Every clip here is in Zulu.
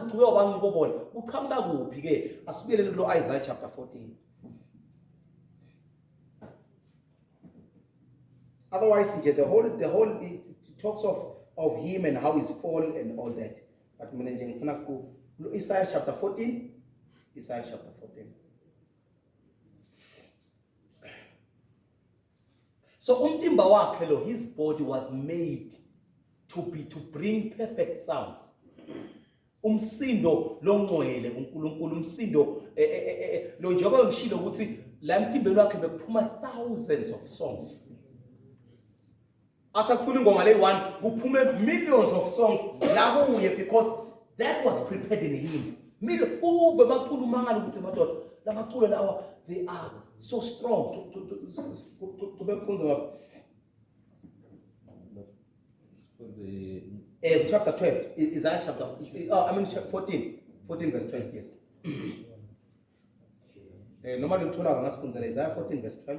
uqhuke wabanga ubobola uqhamuka kuphi ke asibuyeleni kulo Isaiah chapter 14 otherwise nje the whole the whole it, it talks of of him and how he's fall and all that but mina nje ngifuna ku Isaiah chapter 14 Isaiah chapter 14 so umtimba wakhe lo his body was made to be to bring perfect sounds umsindo longcwele uNkulunkulu umsindo e, e, e, lo njengoba ngishilo ukuthi la emtimbeni wakhe bekuphuma thousands of songs athi acula ingoma le one kuphume millions of songs la kuye because that was prepared in him milo uve bacula umangala ukuthi madoda lamaculo lawa they are so strong bekufunza baba Eh, chapter 12 is that chapter oh, I mean chapter 14 14 verse 12 yes eh noma luthola ngasifundzela Isaiah 14 verse 12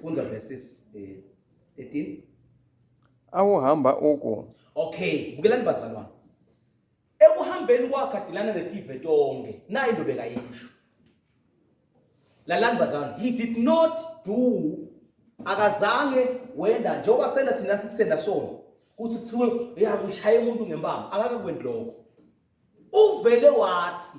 Funza verses eh, 13. awuhamba uku Okay, bukelani bazalwane. Ekuhambeni kwakhe adilana netive tonke. Nayi into bekayisho. Lalani bazalwane, he did not do akazange wenda njengoba senda thina sithi senda sona. Kuthi kuthiwe uyakushaya umuntu ngempama, akakakwendi lokho. Uvele wathi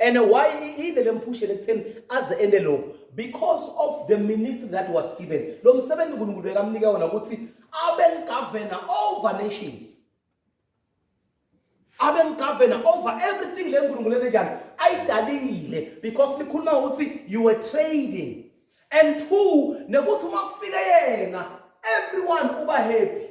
and why iyinde lemphushele ekutheni aze ende lokho because of the ministry that was given lo msebenzi uNkulunkulu bekamnike wona ukuthi abe governor over nations abe governor over everything le nkulunkulu enenjani ayidalile because likhuluma ukuthi you were trading and two nekuthi uma kufike yena everyone uba happy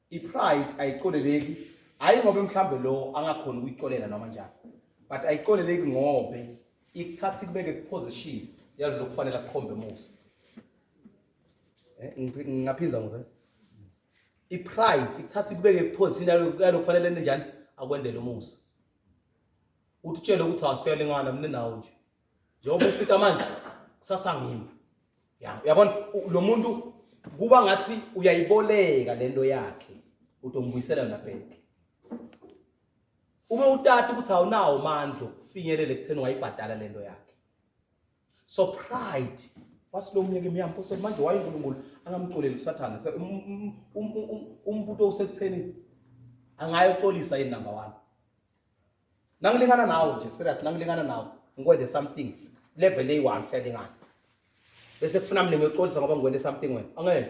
I-pride ayiqoleleki hhayi ngobe mhlawumbe lo angakhona ukuyiqolela noma njani but ayiqoleleki ngobe ikuthatha ikubeke kuposition yalo lokufanele akukhombe musa eh, ngingaphinza ngizesa i-pride ikuthatha ikubeke kuposition yalo kufanele ninjani akwendele umusa uthi utshele ukuthi awusele ngana mina nawo nje njengoba usita manje kusasa ngimi ya uyabona u- lo muntu kuba ngathi uyayiboleka le nto yakhe utombuyisela yona bheke uma utata ukuthi awunawo mandla okufinyelela ekutheni wayibhadala le nto yakhe so pride wasilomyeke miyampo so manje wayenkulunkulu angamxoleli kusathane Se- um- um- um- um- um- umbuto usekutheni angayoxolisa yini number one nangilingana nawe nje serious nangilingana nawe ngikwende something level eyi-one siyalingana bese kufuna mina ngiyoxolisa ngoba ngikwende something wena angeke